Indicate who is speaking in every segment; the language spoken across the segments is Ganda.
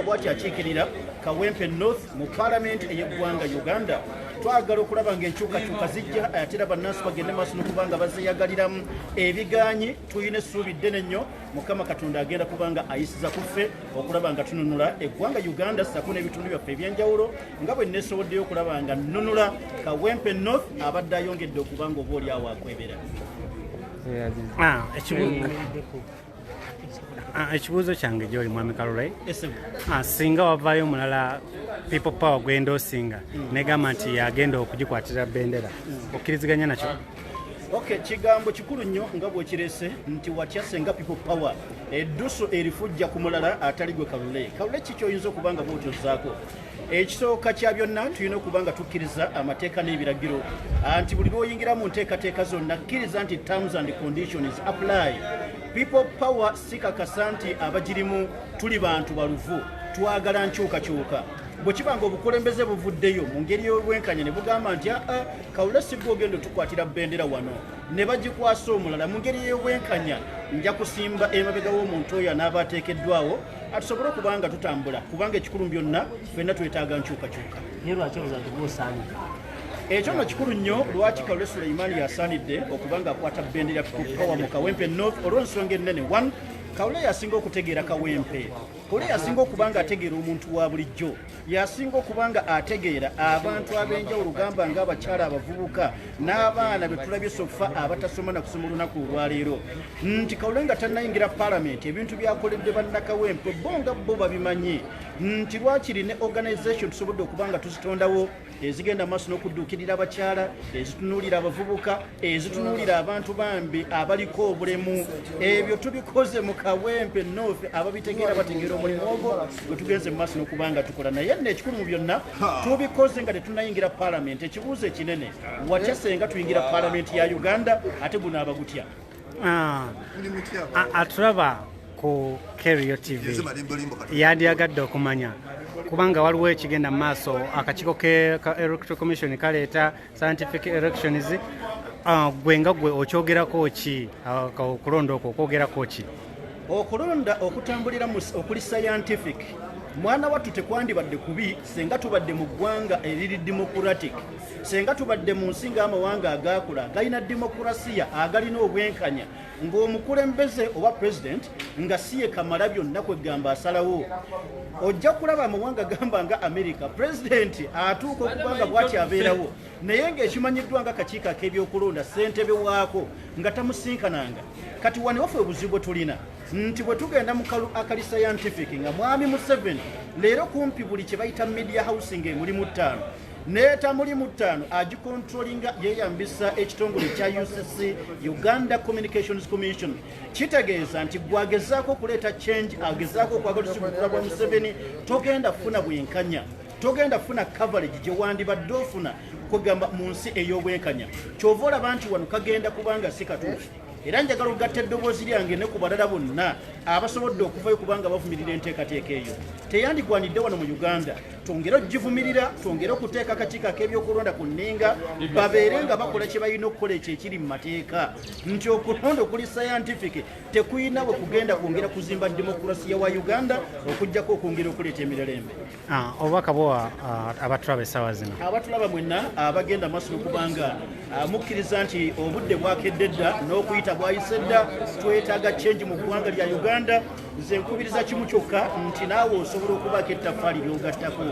Speaker 1: bwati akiikirira kawempe north mu palamenti ey'eggwanga uganda twagala okulaba nga enkyukakyuka zijja ate era bannansi bagende maaso nokubanga bazeyagaliramu ebiganyi tulina essuubi ddene nnyo mukama katonda agenda kubanga ayisiza ku ffe okulaba nga tununula eggwanga uganda sako n'ebitundu byaffe ebyenjawulo nga bwe nesoboddeyo okulaba nga nunula kawempe north abadde ayongedde okubanga oba oli awo akwebera ah,
Speaker 2: Ah, ekibuuzo kyange gyoli mwami kalule ah, singa wavaayo omulala people power gwenda osinga hmm. negamba nti yagenda okugikwatira bendera hmm. okkiriziganya nakyo ok
Speaker 1: kigambo kikulu nnyo nga bwekirese nti watya senga people power eddusu erifujja ku mulala atali gwe kalule kalule kikyoyinza okuba nga bwotozaako Ekisooka kya byonna tulina okuba nga tukkiriza amateeka n'ebiragiro anti buli lwoyingira mu nteekateeka zonna kkiriza nti terms and conditions apply people power sikakasa nti abagirimu tuli bantu baluvu twagala nkyukakyuka bwe kiba nga obukulembeze buvuddeyo mu ngeri y'obwenkanya ne bugamba nti aa ah, ah, kawula sigwa ogenda otukwatira bendera wano ne bagikwasa omulala mu ngeri y'obwenkanya nja kusimba emabega w'omuntu oyo anaaba ateekeddwawo atusobole okuba nga tutambula kubanga ekikulu byonna fenna twetaaga nkyukakyuka naye lwaki oza nti gwosaanyi ekyo nga kikulu nnyo lwaki kalule suleimaani yasaanidde okuba nga akwata bendera power mu kawempe north olw'ensonga ennene one kawule yasinga okutegeera kawempe kawule yasinga okuba nga ategeera omuntu wa bulijjo yasinga okuba nga ategeera abantu ab'enjawulo gamba nga abakyala abavubuka n'abaana be tulabye sofa abatasoma na kusoma olunaku olwaleero nti kawule nga tannayingira palamenti ebintu byakoledde bannakawempe bo nga bo babimanyi nti lwakiri ne organization tusobodde okuba nga tuzitondawo ezigenda maaso n'okudduukirira abakyala ezitunuulira abavubuka ezitunuulira abantu bambi abaliko obulemu ebyo tubikoze mu kawempe noofe ababitegeera bategeera omulimu ogwo gwe tugenze mu maaso n'okuba nga tukola naye nno ekikulu mu byonna tubikoze nga tetunayingira palamenti ekibuuzo ekinene watya senga tuyingira palamenti ya uganda ate gunaaba gutya Ah.
Speaker 2: atulaba ku kerio tv yandiyagadde okumanya kubanga waliwo ekigenda mu maaso akakiiko ka electoral commission kaleeta scientific elections ah, gwe nga gwe okyogerako ki ah, okulonda okwo okwogerako ki okulonda
Speaker 1: okutambulira okuli scientific mwana wattu tekwandibadde kubi senga tubadde mu ggwanga eriri democratic Senga tubadde mu nsi ng'amawanga agaakula galina demokurasiya agalina obwenkanya ng'omukulembeze oba president nga si ye kamala byonna kwegamba asalawo ojja kulaba amawanga gamba nga amerika pulezidenti atuuka okuba nga bwati abeerawo naye ngaekimanyiddwa nga kakiiko ak'ebyokulonda ssentebe waako nga tamusinkananga kati wanewafe obuzibu bwe tulina nti bwe tugenda mu kalu akali scientific nga mwami museveni leero kumpi buli kye bayita media housing emulimu ttaano naye tamuli mu ttaano agikontrolinga yeeyambisa ekitongole kya ucc uganda communications commission kitegeeza nti gwagezaako okuleeta change agezaako okwagala osikukula bwa museveni togenda kufuna bwenkanya togenda kufuna coverage gye wandibadde ofuna kwegamba mu nsi ey'obwenkanya kyova olaba nti wano kagenda kubanga si katuufu era njagala okugatta eddoboozi lyange ne ku balala bonna abasobodde okuvayo kubanga bavumirira enteekateeka eyo teyandigwanidde wano mu uganda twongere okugivumirira twongere okuteeka akakiiko ak'ebyokulonda ku nninga babeere nga bakola kye balina okukola ekyo ekiri mu mateeka nti okulonda okuli sayantifiki tekulina bwe kugenda kwongera kuzimba demokulasiya wa uganda okugyako okwongera okuleeta emirerembe ah, obubaka bwowa
Speaker 2: ah, abatulaba essaawa zino abatulaba mwenna
Speaker 1: abagenda ah, maaso nokubanga mukkiriza nti obudde bwakedde dda n'okuyita bwayise dda twetaaga kyengi mu ggwanga lya uganda nze nkubiriza kimu kyokka nti naawe osobola okubaako ettaffaali ly'ogattako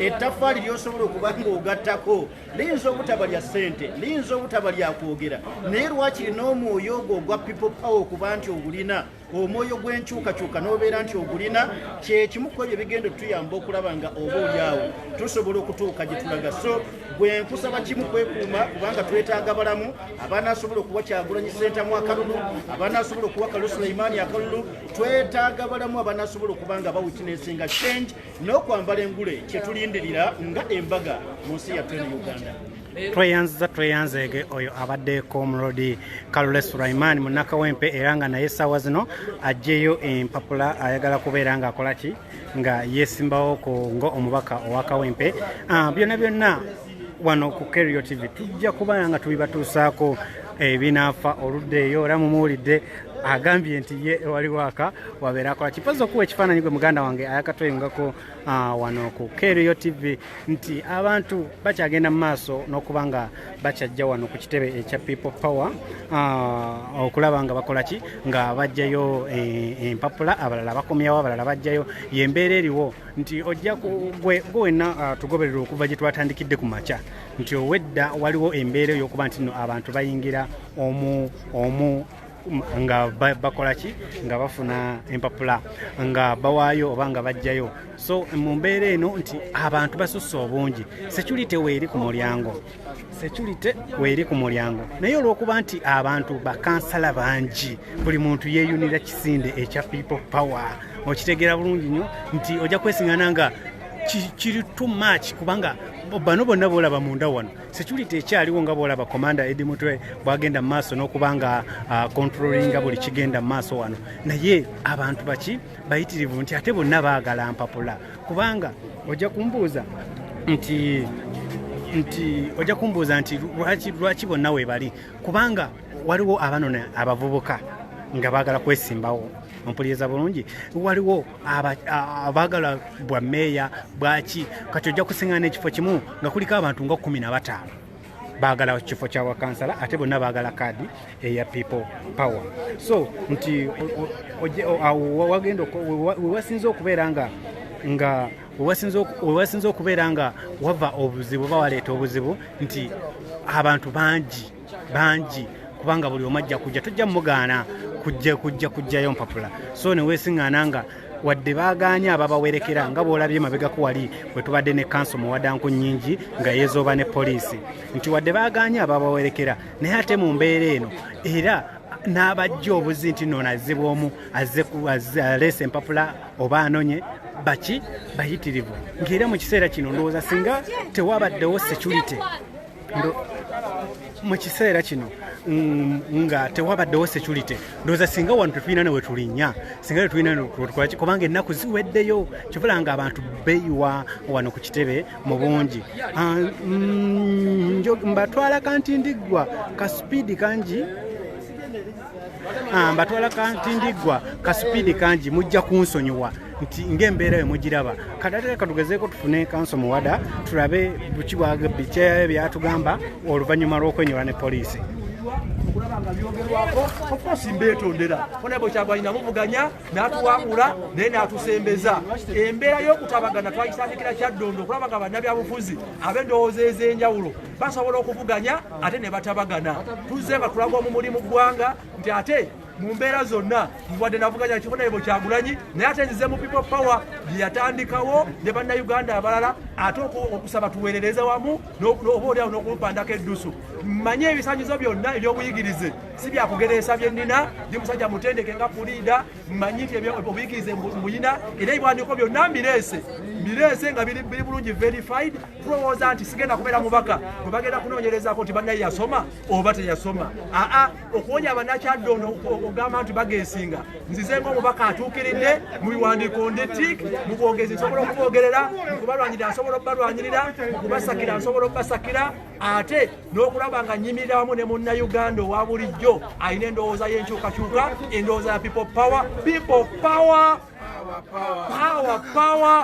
Speaker 1: ettaffaali ly'osobola okuba ng'ogattako liyinza obutaba lya ssente liyinza obutaba lya kwogera naye lwakiri n'omwoyo ogwo ogwa people power okuba nti ogulina omwoyo gw'enkyukakyuka n'obeera nti ogulina kyekimu ku ebyo bigenda otuyamba okulaba nga oba olyawo tusobola okutuuka gye tulaga so gwe nkusaba kimu kwekuuma kubanga twetaaga balamu abanasobola okuwa kyagulanyi sentamu akalulu abanasobola okuwa kalu suleimaani akalulu twetaaga balamu abanasobola okuba nga bawitinesinga change n'okwambala engule kyetulindirira nga embaga mu nsi yattu eno uganda tweyanziza
Speaker 2: tweyanzeege oyo abaddeeko omulodi kalule sulaiman munakawempe era nga naye essaawa zino ajjeyo empapula ayagala kubeera ng'akola ki nga yesimbawo ku nga omubaka owa kawempe ah, byonna byonna wano ku kerio tv tujja kubala nga tubibatuusaako ebinaafa eh, oludde eyo era mumuwulidde agambye nti ye ewali waaka wabeera akola kipazi okuwa ekifaananyi gwe muganda wange ayakatweyungako ah, wano ku kerio tv nti abantu bakyagenda mu maaso n'okuba nga bakyajja wano ku kitebe ekya people power ah, okulaba nga bakola ki nga bajjayo eh, empapula abalala bakomyawo abalala bajjayo yembeera eriwo nti ojja gwe wenna ah, tugoberera okuva gye twatandikidde ku makya nti owedda waliwo embeera eyokuba nti no abantu bayingira omu omu nga bakola ki nga bafuna empapula nga bawaayo oba nga bajjayo so mu mbeera eno nti abantu basusse obungi security weeri ku mulyango security weeri ku mulyango naye olw'okuba nti abantu bakansala bangi buli muntu yeeyunira kisinde ekya people power okitegeera bulungi nnyo nti ojja kwesingana nga kiri too much kubanga bano bonna boolaba munda wano security ekyaliwo nga bwolaba komanda edi mutwe bwagenda mu maaso n'okuba nga uh, controllinga buli kigenda mu maaso wano naye abantu baki bayitirivu nti ate bonna baagala mpapula kubanga ojja kumbuuza nti nti ojja kumbuuza nti lwaki bonna webali kubanga waliwo abanona abavubuka nga baagala kwesimbawo ompuliriza bulungi waliwo abaagala bwa meeya bwaki kati ojja kusiŋana ekifo kimu nga kuliko abantu nga kumi na bataano baagala kifo kya wakansala ate bonna baagala kaadi eya people power so nti wewasinza okubeera nga nga wewasinza okubeera nga wava obuzibu oba waleeta obuzibu nti abantu bangi bangi kubanga buli omu ajja kujja tujja mugaana kujja kujja kujjayo mpapula so newesiŋŋaana nga wadde baagaanye ababawerekera nga bwolabye mabegako wali bwe tubadde ne kanso muwadanku nnyingi nga yeezooba ne poliisi nti wadde baagaanye ababawerekera naye ate mu mbeera eno era n'abajja obuzi nti noono azze bwomu aleese empapula oba anonye baki bayitirivu ng'era mu kiseera kino ndowooza singa tewabaddewo security mu kiseera kino mm, nga tewabaddewo security ndowooza singa wano tetulina newe tulinya singa tetulina newetukolaki kubanga ennaku ziweddeyo kivula nga abantu beyiwa wano ku kitebe mu bungi ah, mm, mbatwala kanti ndiggwa ka sipiidi kangi ah, mbatwala kanti ndiggwa ka sipiidi kangi mujja kunsonyiwa nti ng'embeera yo mugiraba kadateka katugezeeko tufune kanso muwada tulabe buki bikyayo byatugamba oluvannyuma lw'okwenyola ne poliisi okulaba nga
Speaker 3: byogerwako okosi mbeetondera fona bwe kyagwanyi namuvuganya n'atuwangula naye n'atusembeza embeera y'okutabagana twayisandikira kyaddondo okulaba nga bannabyabufuzi ab'endowooza ez'enjawulo basobola okuvuganya ate ne batabagana tuzze nga tulaga omu mulimu ggwanga nti ate mu mbeera zonna wadde navuganya ekifo naye bwekyagulanyi naye ate nzize mu people power gyeyatandikawo ne bannayuganda abalala ate okusaba tuweerereze wamu oba oliawo n'okumpandako eddusu manye ebisanyizo byonna ebyobuyigirize si byakugereesa bye nnina ndi musajja mutendeke nga puliida mmanyi nti obuyigirize mbuyina era ebiwandiiko byonna mbireese bireese nga biri bulungi verified tulowooza nti sigenda kubeera mubaka bwe bagenda kunoonyerezako nti bannaye yasoma oba teyasoma aa okuwonya abanakyaddondo okugamba nti bagesinga nzize ngaomubaka atuukiridde mu biwandiiko ndi tik mu bwogezi nsobola okuboogerera mukubalwanyirira nsobola okubalwanyirira mukubasakira nsobola okubasakira ate n'okulaba nga nyimirira wamu ne munnayuganda owa bulijjo alina endowooza y'enkyukakyuka endowooza ya people power people power power
Speaker 4: power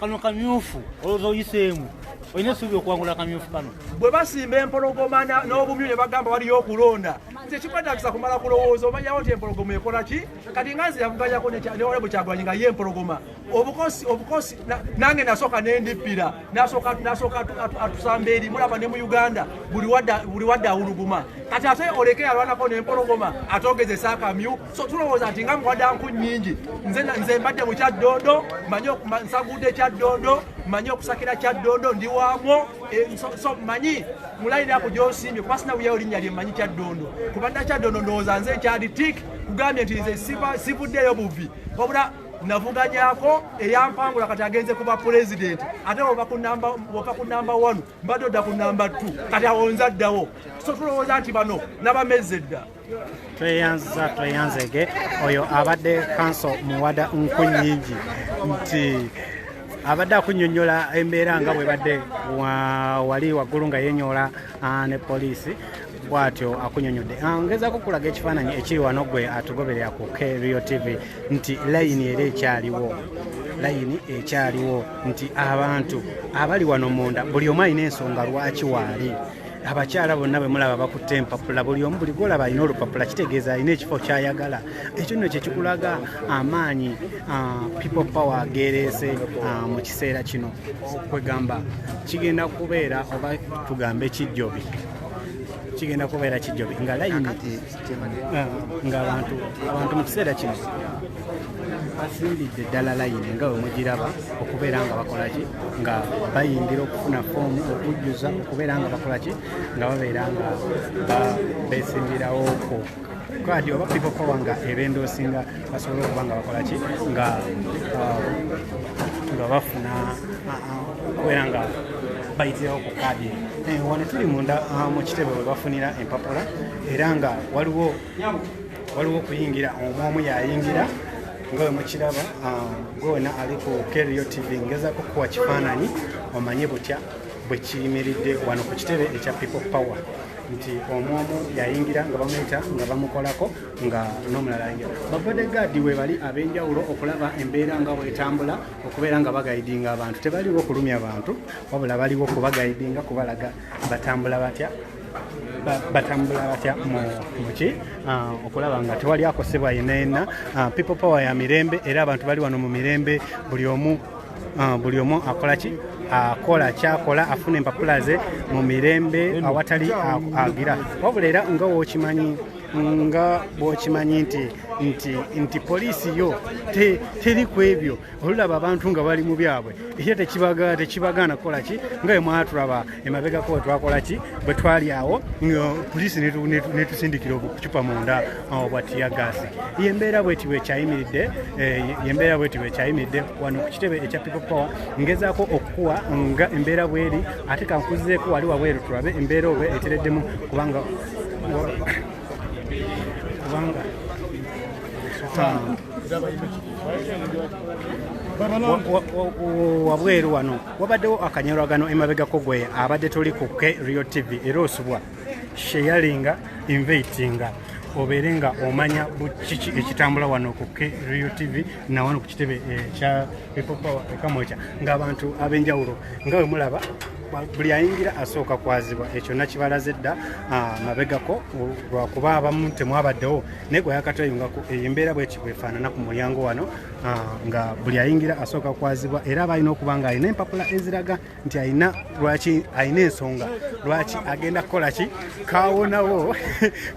Speaker 4: kano kamyufu olowooza oyiseemu olina esuubi okuwangula akamyufu kano bwe basimba
Speaker 3: empologoma n'obumyu ne bagamba waliyo okulonda nze kikwetagisa kumala kulowooza omanyawo nti empologoma ekola ki kati nga nze yavuganyako newalebu kyagulanyi nga ye empologoma obukosi obukosi nange nasooka nendippira nasooka atusamba eri mulaba ne mu uganda buli wadde awuluguma kati ate oleke yalwanako nempologoma ate ogezesa akamyu so tulowooza nti nga muwada nku nyingi nze nze mbadde mu kyaddondo manyi nsaguuda ekyaddondo manyi okusakira kyaddondo ndi waamwo eh, so manyi mulayira ako gyosimbye kuba sina buyawo linnya lye manyi kyaddondo kuba nda kyaddondo ndowooza nze nkyali tik kugambye nti nze sivuddeyo buvi wabula navuganyako eyampangula kati agenze kuba pulezidenti ate ova ku namba one mbadde odda ku namba two kati awonza ddawo so tulowooza nti bano nabamezze dda tweyanziza tweyanzege
Speaker 2: oyo abadde kanso muwada nku nyingi nti abadde akunyonyola embeera nga bwebadde wali waggulu nga yenyola ah, ne poliisi bwatyo akunyonyodde ah, ngezako kulaga ekifaananyi ekiri wano gwe atugoberera ku krio tv nti layini era ekyaliwo layini ekyaliwo nti abantu abali wano munda buli omu alina ensonga lwaki waali abakyala bonna bwe mulaba bakutte empapula buli omu buli gwolaba alina olupapula kitegeeza alina ekifo kyayagala ekyo nno kyekikulaga amaanyi ah, people power gereese ah, mu kiseera kino kwegamba kigenda kubeera oba tugambe kijjobi kigenda kubeera kijjobi nga layini Ah, ngaabantu abantu mu kiseera kino basimbidde ddala layini nga wemugiraba okubeera nga bakolaki nga bayingira okufuna foomu okujjuza okubeera nga bakolaki nga babeera nga besimbirawo ku kadi oba people power nga ebenda osinga basobole okuba nga bakolaki nga ah, nga bafuna ah, okubeera nga bayitirawo ku kadi eh, wano tuli munda mu kitebe webafunira empapula era nga waliwo waliwo okuyingira omu omu yayingira nga we mukiraba ah, gwe wena ali ku kerio tv ngezako kuwa kifaananyi omanye butya bwe kiyimiridde wano ku kitebe ekya people power nti omu omu yayingira nga bamuyita nga bamukolako nga n'omulala ayingira babade gaadi we bali ab'enjawulo okulaba embeera nga bwetambula okubeera nga bagayidinga abantu tebaliwo okulumya bantu wabula baliwo kubagayidinga kubalaga batambula batya batambula batya muki ah, okulaba nga tewali akosebwa yenayena ah, people power ya mirembe era abantu bali wano mu mirembe buli omu ah, buli omu akola ki akola kyakola afuna empapula ze mu mirembe awatali agira wabula era nga wokimanyi nga bwokimanyi nti nti nti poliisi yo teri ku ebyo olulaba abantu nga bali mu byabwe ekyo tekibagaana kukola ki nga emwatulaba emabegako wetwakola ki bwe twali awo poliisi netusindikira obucupa munda uh, bwa tiyagaasi yembeera bweti bwekyayimiridde eh, yembeera bweti bwekyayimiridde wano ku kitebe ekya people power ngezaako okukuwa nga embeera bweri ate kankuzizeeko wali wabweru tulabe embeera oba etereddemu kubanga kubanga wabweru wano wabaddewo akanyolagano emabegako gwe abadde toli ku k rio tv era osubwa sheyalinga invatinga obeere nga omanya kiki ekitambula wano ku k rio tv nawano ku kitebe ekya eh, people power ekamwekya ngaabantu ab'enjawulo nga we mulaba buli ayingira asooka kwazibwa ekyo nakibalaze dda ah, mabegako lwakuba abamu temwabaddewo naye gwe yakatweyungako eyo embeera bweti bwefaanana ku mulyango wano ah, nga buli ayingira asooka kwazibwa era aba alina okuba nga alina empapula eziraga nti alina lwaki alina ensonga lwaki agenda kukola ki kawonawo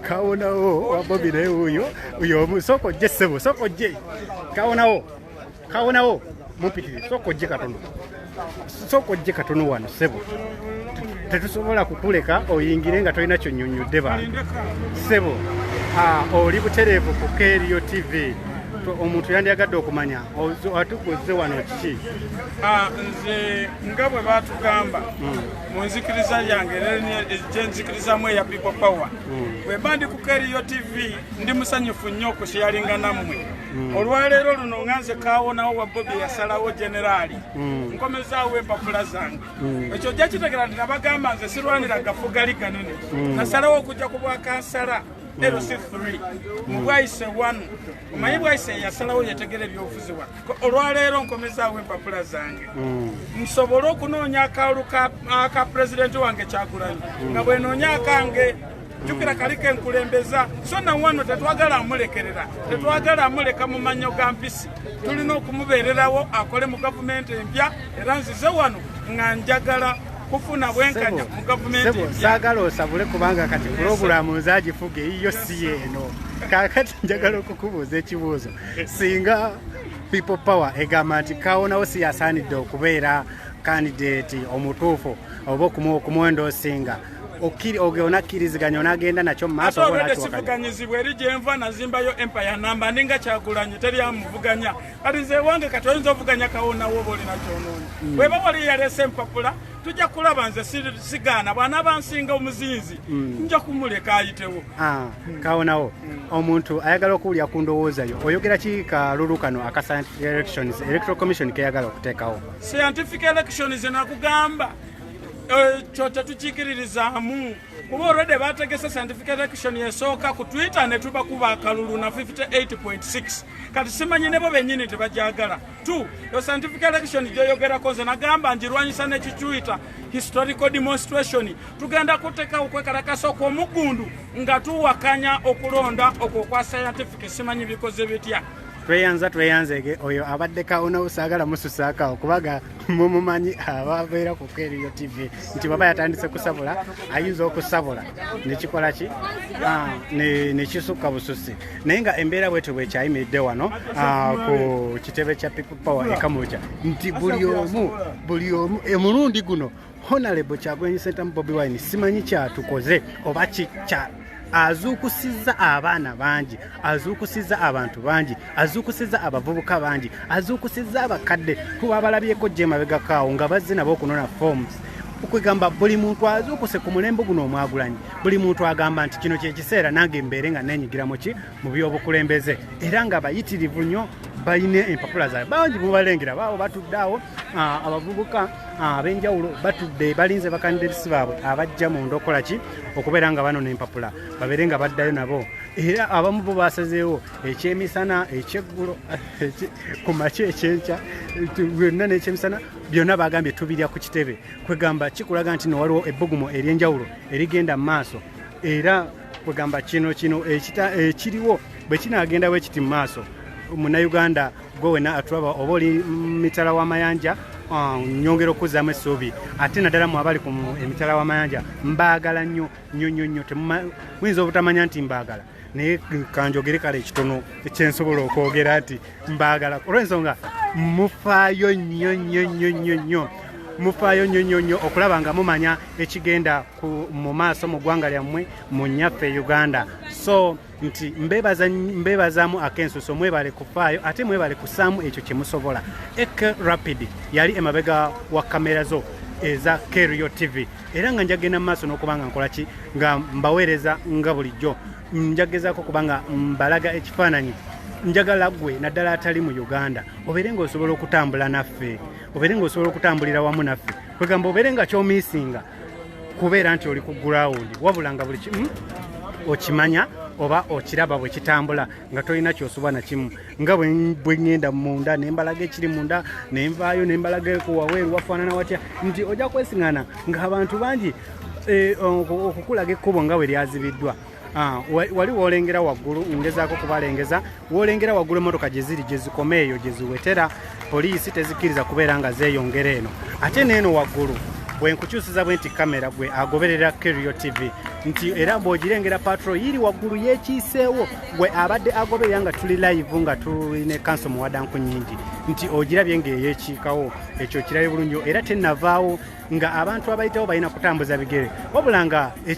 Speaker 2: kawonawo wabobi naye wuyo uyo omu sooka ojje ssebo sooka ojje kawonawo kawonawo mumpitirize sooka ojje katono sooka ojje katono wano sebo tetusobola kukuleka oyingire nga tolina kyonyonyodde bantu sebo oli butereevu ku kerio tv omuntu yandyagadde okumanya atukuze wano kiki nze
Speaker 5: nga bwe batugamba hmm. mu nzikiriza yange gyenzikirizamu eya people power hmm. bwemba ndi ku kerio tv ndi musanyufu nnyo okusiyalinganammwe Mm. olwaleero luno nga nze kawonawo wa bobi yasalawo generaali mm. nkomezaawo empapula zange mm. ekyo ojja kitegera nti nabagamba nze sirwanira gafugali ganene nasalawo okujja ku bwakansala lc3 mubwayise one omanyi bwayise yasalawo yetegera ebyobufuzi wa olwaleero nkomezaawo empapula zange nsobole okunoonya akalulu ka pulezidenti wange kyagulanyi nga bwenoonya akange jukira kaliko enkulembeza so na wano tetwagala amulekerera tetwagala amuleka mu manyo ga mpisi tulina okumubeererawo akole mu gavumenti empya era nzize wano nga njagala kufuna bwenkanya mu gavumenti saagala osabule kubanga
Speaker 2: kati pulogulaamu nzagifuga eyiyo si yeeno kakati njagala okukubuuza ekibuuzo singa people power egamba nti kawonawo si yasaanidde okubeera kandideti omutuufu oba okumwenda osinga onakkiriziganya onagenda nakyo mumaasoobwedesivuganyizibwa eri
Speaker 5: gyenva nazimbayo empire namba ninga kyagulanyi teri amuvuganya kati nze ewange kati oyinza ovuganya kawonawo oba olina kyonoonyi mm. weba wali yaleese empapula tujja kulaba nze sigaana bwana bansinga omuzinzi mm. nja kumuleka ayitewo ah, kawonawo
Speaker 2: mm. omuntu ayagala okuwulira ku ndowooza yo oyogera ki kalulu kano aka scientific elections electoral commission keyagala okuteekawo scientific
Speaker 5: elections nakugamba ekyo tetukikiririzaamu kuba olwedde bategese scientific election esooka ku twitter ne tubakuba akalulu na 58.6 kati simanyi nebo bennyini tebajagala t yo scientific election gyoyogerako nze nagamba ngirwanyisa nekitwitter historical demonstration tugenda kuteka okwekalakasa okw'omuggundu nga tuwakanya okulonda okwo kwa scientific simanyi bikoze bitya tweyanza tweyanzege
Speaker 2: oyo abadde kawunawo saagala mususaakawo kubaga mumumanyi ababeera ku keriyo tv nti baba yatandise kusabula ayinza okusabula nekikola ki ah, nekisukka bususi naye nga embeera bwetyo bwekyayimiridde wano ah, ku kitebe kya people power ekamuja nti buli omu buli omu emulundi guno honalebo kyagulanyi sentamu bobi wine simanyi kyatukoze oba kikya azuukusizza abaana bangi azuukusizza abantu bangi azuukusizza abavubuka bangi azuukusizza abakadde kuba abalabyeko gyemabegakaawo nga bazze nabo okunona forms okwegamba buli muntu azuukuse ku mulembe guno omwagulanyi buli muntu agamba nti kino kyekiseera nange mbeere nga nenyigira muki mu byobukulembeze era nga bayitirivu nnyo balina empapula zaabwe bangi mubalengera baawo batudde awo abavubuka Ah, ab'enjawulo batudde balinze bakandidesi baabwe abajja mu ndokola ki okubeera nga bano n'empapula babeere nga baddayo nabo era abamu bo basazeewo ekyemisana ekyeggulo ku makya ekyenkya byonna n'ekyemisana byonna bagambye tubirya ku kitebe kwegamba kikulaga nti nowaliwo ebbugumu ery'enjawulo erigenda mu maaso era kwegamba kino kino ekiriwo bwe kinaagenda bwe kiti mu maaso munayuganda gwe wena atulaba oba oli mitala w'amayanja ah, nyongera okuzaamu essuubi ate naddala mu abali ku emitala w'amayanja mbaagala nnyo nnyo nnyo nnyo muyinza obutamanya nti mbaagala naye kanjogere kale ekitono ekyensobola okwogera nti mbaagala olw'ensonga mufaayo nnyo nnyo nnyo nnyo nnyo mufaayo nnyo nnyo nnyo okulaba nga mumanya ekigenda mu maaso mu ggwanga lyammwe mu nnyaffe uganda so nti mbebazaamu akensuso mwebale kufaayo ate mwebale kusaamu ekyo kyemusobola ek rapid yali emabega wa kamera zo eza kerio tv era nga njagenda mu maaso n'okuba nga nkolaki nga mbaweereza nga bulijjo njagezaako kuba nga mbalaga ekifaananyi njagala gwe naddala atali mu uganda obeere nga osobola okutambula naffe obeere nga osobola okutambulira wamu naffe kwegamba obeere nga kyomiisinga kubeera nti oli ku gurawundi wabula nga buli kimu hmm, okimanya oba okiraba bwe kitambula nga tolina kyosuba nakimu nga bwe ŋŋenda munda ne mbalaga ekiri munda ne nvaayo ne mbalaga ekuwaweeru wafaanana watya nti ojja kwesiŋana ng'abantu bangi eh, okukulaga ekkubo nga bwe lyazibiddwa Ah, wali wolengera waggulu ngezaako kubalengeza wolengera waggulu emotoka gyeziri gyezikoma eyo gyeziwetera poliisi tezikkiriza kubeera nga zeeyongera eno ate neeno waggulu bwe nkukyusiza bwe nti kamera gwe agoberera kerio tv nti era bw'ogirengera patro yiri waggulu yeekiiseewo gwe abadde agoberera nga tuli live nga tuli ne kanso muwadanku nyingi nti ogirabye ng'eyeekiikawo ekyo kirabe bulungi era tenavaawo nga abantu abayitawo balina kutambuza bigere wabula nga e,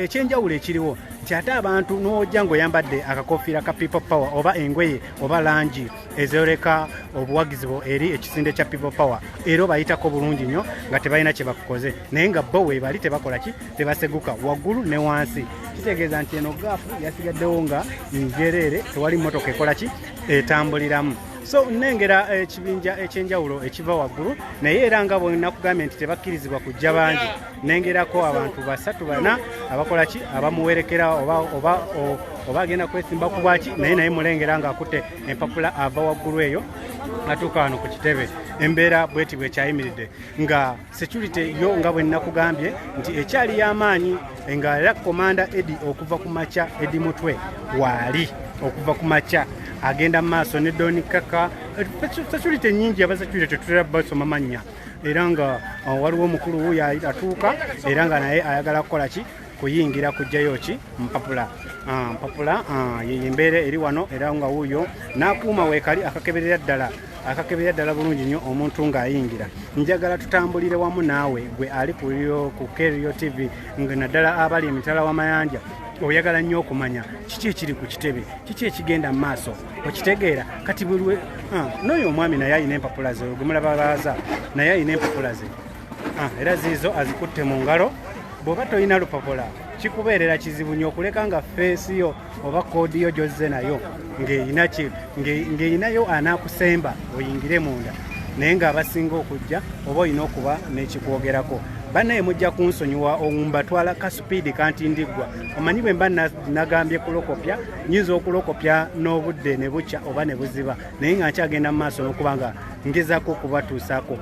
Speaker 2: ekyenjawulo ekiriwo nti ate abantu n'ojja ng'oyambadde akakofiira ka people power oba engoye oba langi ezooleka obuwagizi bwo eri ekisinde kya people power era obayitako bulungi nnyo nga tebalina kye bakukoze naye nga bo weebali tebakola ki tebaseguka waggulu ne wansi kitegeeza nti eno gaafu yasigaddewo nga njereere tewali mmotoka ekola ki etambuliramu so nnengera eh, ekibinja ekyenjawulo ekiva waggulu naye era nga bwenakugambye nti tebakkirizibwa kujja bangi nengerako abantu basatu bana abakola ki abamuwerekera oba agenda kwesimba ku bwaki naye naye mulengera ng'akutte empapula ava waggulu eyo atuuka wano ku kitebe embeera bweti bwekyayimiridde nga security yo nga bwe nakugambye nti ekyali y'amaanyi nga era komanda edi okuva ku makya edi mutwe waali okuva ku makya agenda mu maaso ne doni kaka security nyingi aba security tetutera basoma mannya era nga uh, waliwo omukulu wuyo atuuka era nga naye ayagala kukola ki kuyingira kujjayo ki mpapula ah, mpapula ah, yeyembeera eri wano era nga wuuyo n'akuuma weekali akakeberera ddala akakeberera ddala bulungi nnyo omuntu ng'ayingira njagala tutambulire wamu naawe gwe ali ku kerio tv nga naddala abali emitala w'amayanja oyagala nnyo okumanya kiki ekiri ku kitebe kiki ekigenda mu maaso okitegeera kati bulwe ah, n'oyo omwami naye alina empapula ze ogumulaba baaza naye alina empapula ze Ah, era ziizo azikutte mu ngalo bw'oba tolina lupapula kikubeerera kizibu nyo okuleka nga feesi yo oba koodi yo gyozze nayo ng'erinayo anaakusemba oyingire munda naye ng'abasinga okujja oba olina okuba n'ekikwogerako banaye mujja kunsonyiwa ombatwala ka supiidi kanti ndiggwa omanyi bwe mba nagambye kulokopya nyinza okulokopya n'obudde ne bukya oba ne buziba naye nga nkyagenda mu maaso n'okuba nga ngezako okubatuusaako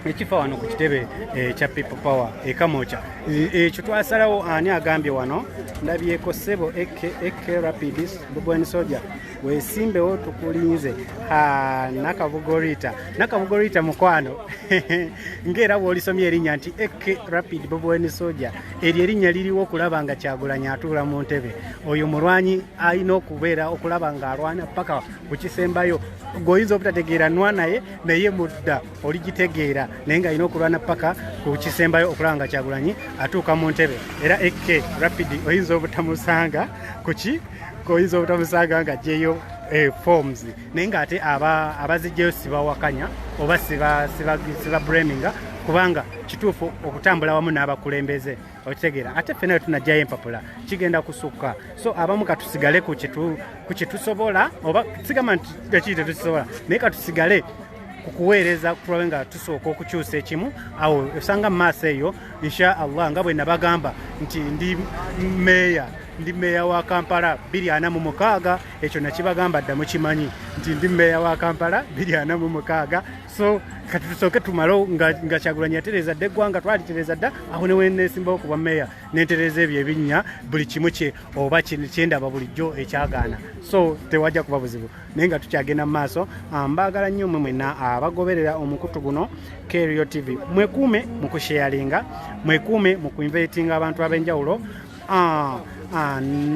Speaker 2: ekifa wano ku kitebe ekya eh, people power ekamoca eh, eh, ekyo twasalawo ani agambye wano ndabyeko sebo ek rapidis bubwen soja wesimbewo tukulinze nakabugorita nakabugorita mukwano ngaera bwolisomye erinnya nti ek rapid bubwen soja eryo erinnya liriwo okulaba nga kyagulanya atuula mu ntebe oyo mulwanyi alina okubeera okulaba ng'alwana paka ku kisembayo gweoyinza obutategeera nwa naye naye mudda oligitegeera naye nga alina okulwana paka ku kisembayo okulaba nga kyagulanyi atuuka mu ntebe era ek rapid oyinza obutamusanga kuki oyinza obutamusanga nga jeyo eh, forms naye nga ate abazijjayo sibawakanya oba sibabraminga kubanga kituufu okutambula wamu n'abakulembeze okitegeera ate ffe nayo tunajjayo empapula kigenda kusukka so abamu katusigale ku kyetusobola oba sigamba nti ekiri tetukisobola naye katusigale ku kuweereza kutulabe nga tusooka okukyusa ekimu awo osanga mu maaso eyo insha allah nga bwe nabagamba nti ndi meeya ndi meeya wa kampala biri ana mu mukaaga ekyo nakibagamba dda mukimanyi nti ndi meeya wa kampala biri ana mu mukaaga so kati tusooke tumale nga kyagulanyi yatereeza dda eggwanga twalitereeza dda awo newenesimbawo kuba meeya nentereeza ebyo ebinnya buli kimu kye oba kyendaba bulijjo ekyagaana so tewajja kuba buzibu naye nga tukyagenda mu maaso ah, mbaagala nnyo mwe mwena abagoberera ah, omukutu guno kerio tv mwekuume mu kusheyalinga mwekuume mu kuinvaitinga abantu ab'enjawulo ah,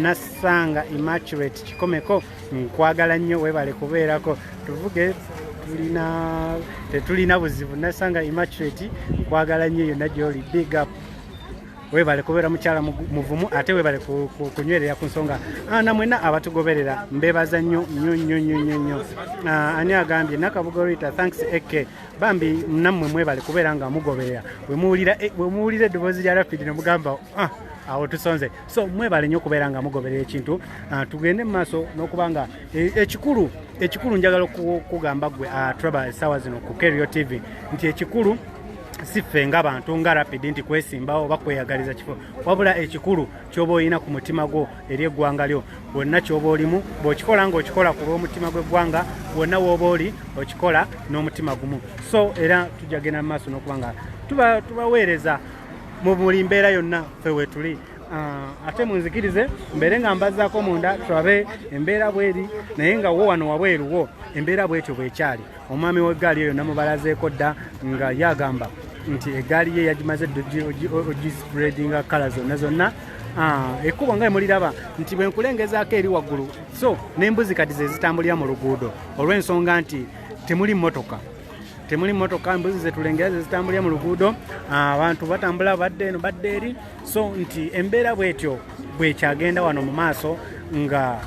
Speaker 2: nassanga immaculate kikomeko nkwagala nnyo webale kubeerako tuvuge tulina tetulina buzibu nassanga immaculate nkwagala nnyo yonna gyoli big up webale kubeera mukyala muvumu ate webale kunywerera ku nsonga ah, namwena abatugoberera mbebaza nnyo nnyo nnyo nnyo nnyo nnyo ah, ani agambye nakabuga rita thanks ek bambi nammwe mwebale kubeera nga mugoberera wemuwulira eh, eddoboozi lya rapidi nemugamba ah, awo tusonze so mwebale nnyo okubeera nga mugoberera ekintu tugende mu maaso n'okuba nga eh, ekikulu ekikulu njagala okugamba gwe traba esaawa zino ku kerio tv nti ekikulu si ffe nga bantu nga rapidi nti kwesimbawo oba kweyagaliza kifo wabula ekikulu kyoba olina ku mutima gwo eri eggwanga lyo wonna kyoba olimu bw'okikola nga okikola ku lw'omutima gw'eggwanga wonna wooba oli okikola n'omutima gumu so era tujja genda mu maaso n'okuba nga tubaweereza mu buli mbeera yonna ffe wetuli Ah, ate munzikirize mbeere nga mbazaako munda tulabe embeera bweri naye nga wo wano wabweruwo embeera bwetyo bwekyali omwami w'eggaali eyo namubalazeeko dda nga yagamba nti eggaali ye yagimaze ogispreadinga kala zonna zonna ah, ekkubo nga emuliraba nti bwe nkulengezaako eri waggulu so n'embuzi kati ze zitambulira mu luguudo olw'ensonga nti temuli mmotoka temuli motoka mbuzi zetulengera zezitambulira mu luguudo ah, abantu batambula badde eno badde eri so nti embeera bwetyo bwekyagenda wano mu maaso nga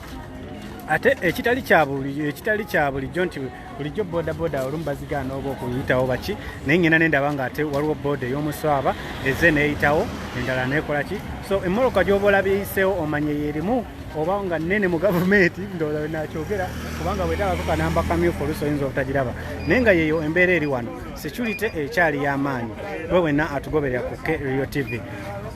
Speaker 2: ate ekitali kyekitali kya bulijjo nti bulijjo bodaboda olumu bazigaana oba okuyitawo baki naye ngenda nendaba nga ate waliwo boda ey'omuswaba eze neyitawo endala nekola ki so emmoloka gyoba olabyeyiseewo omanya eyerimu oba nga nene mu gavumenti ndowooza nakyogera kubanga bwetagako kanamba kamyufu oluusi oyinza obutagiraba naye nga yeyo embeera eri wano security ekyali y'amaanyi we wenna atugoberera ku krio tv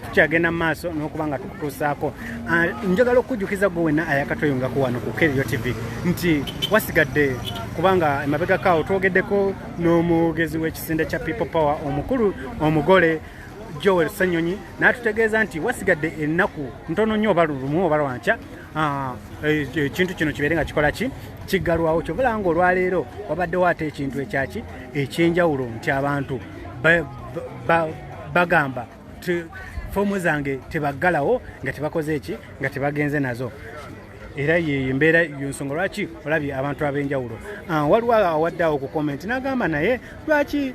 Speaker 2: tukyagenda mu maaso n'okuba nga tukutuusaako ah, njagala okujjukiza gwe wenna ayakatweyungako wano ku kerio tv nti wasigadde kubanga emabegako awo twogeddeko n'omwogezi w'ekisinde kya people power omukulu omugole joel senyonyi n'atutegeeza nti wasigadde ennaku ntono nnyo oba lulumu oba lwankya Ah, eh, ekintu kino kibeere nga kikola ki kiggalwawo kyobala nga olwaleero wabaddewo ate ekintu ekyaki ekyenjawulo nti abantu bagamba foomu zange tebaggalawo nga tebakoze eki nga tebagenze nazo era yeyo embeera yonsonga lwaki olabye abantu ab'enjawulo ah, waliwo awadde awo ku komenti n'agamba naye lwaki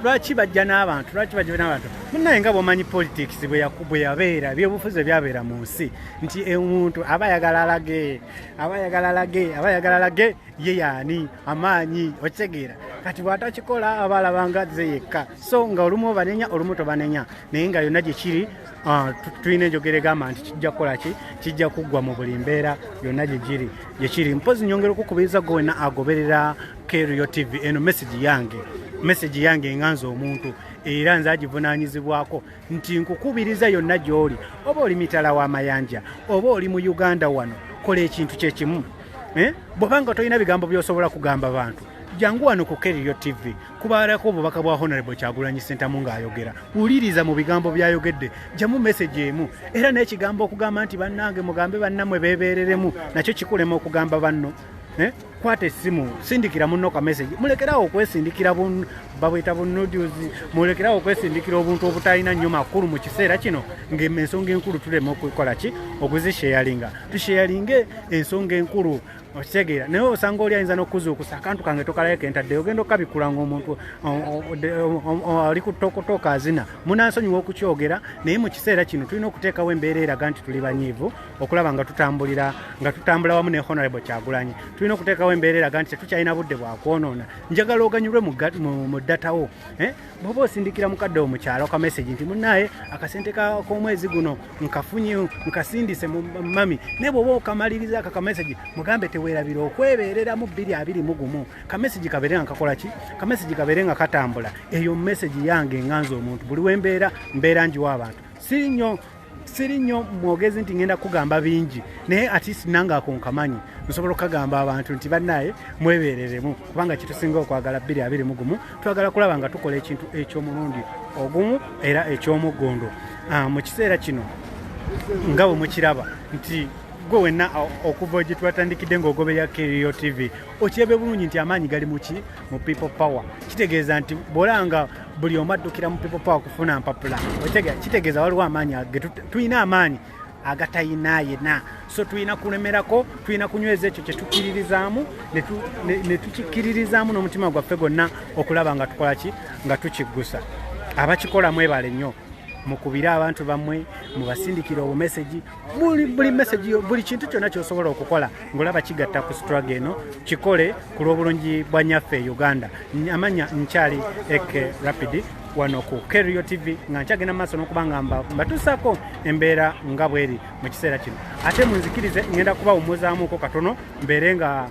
Speaker 2: lwaki bajja n'abantu lwaki bajja n'abantu munaye nga bwomanyi politics bwe yabeera ebyobufuzi ebyabeera mu nsi nti omuntu aba ayagala alage aba ayagala alage aba ayagala alage ye yaani amaanyi okitegeera kati bwatakikola aba alabanga ze yekka so nga olumu obanenya olumu tobanenya naye nga yonna gye kiri Ah, tulina enjogera egamba nti kijja kukola ki kijja kuggwa mu buli mbeera yonna gyegiri gyekiri mpozi nyongera okukubiriza gwe wena agoberera Kerio TV eno message yange message yange enganza omuntu era nze agivunanyizibwako nti nkukubiriza yonna gy'oli oba oli mitala wa mayanja oba oli mu uganda wano kola ekintu kyekimu eh? bwobanga tolina bigambo byosobola kugamba bantu jangu wano ku kerio tv kubalako obubaka bwa honorable kyagulanyi sentamu ng'ayogera wuliriza mu bigambo byayogedde jamu message emu era n'ekigambo okugamba nti bannange mugambe bannamwe beebeereremu nakyo kikulema okugamba banno eh? kwata essimu sindikira munno ka message mulekerawo okwesindikira babweta bunudius mulekerawo okwesindikira obuntu obutalina nnyo makulu mu kiseera kino ngaensonga enkulu tulema okukola ki okuzisheyalinga tusheyalinge ensonga enkulu okitegeera naye osanga oli ayinza nokuzuukusa akantu kange tokalayo kentaddeyo ogenda okukabikula ngaomuntu ali kutokotoka azina munansonyiwa okukyogera naye mu kiseera kino tulina okuteekawo embeera eraga nti tuli banyiivu okulaba nga tutambulira nga tutambula wamu ne honorable kyagulanyi tulina okuteekawo embeera eraga nti tetukyalina budde bwakwonoona njagala oganyulwe mu datawo eh? bwoba osindikira mukadde omukyalo ka message nti munaye akasente k'omwezi guno nkafunye nkasindise mu mami naye bwoba okamaliriza ako ka message mugambe teweerabira okwebeereramu bbiri abiri mu gumu ka message kabeere nga kakola ki ka message kabeere nga katambula eyo message yange enganza omuntu buli wembeera mbeera njiwa abantu si nnyo siri nnyo mwogezi nti ngenda kugamba bingi naye atist nange ako nkamanyi nsobola okukagamba abantu nti bannaye mwebereremu kubanga kitusinga okwagala bbiri abiri mugumu twagala kulaba nga tukola ekintu eky'omulundi ogumu era eky'omuggundu ah, mu kiseera kino nga bwe mukiraba nti gwe wenna okuva gye twatandikidde ng'ogoberera kerio tv okyebe bulungi nti amaanyi gali muki mu people power kitegeeza nti bwolanga buli omu addukira mu people power kufuna mpapula otegera kitegeeza waliwo amaanyi tulina amaanyi agatayina yena so tulina kulemerako tulina kunyweza ekyo kyetukkiririzaamu netukikkiririzaamu n'omutima gwaffe gwonna okulaba nga tukola ki nga tukiggusa abakikolamu ebale nnyo mukubire abantu bammwe mubasindikire obumesegi buli buli message yo buli kintu kyonna kyosobola okukola ngolaba kigatta ku struggle eno kikole ku lw'obulungi bwa nyaffe e uganda amanya nkyali eke rapid wano ku kerio tv nga nkyagenda mu maaso n'okuba nga mbatuusaako embeera nga bweri mu kiseera kino ate munzikirize ngenda kubawumuzaamuuko katono mbeere nga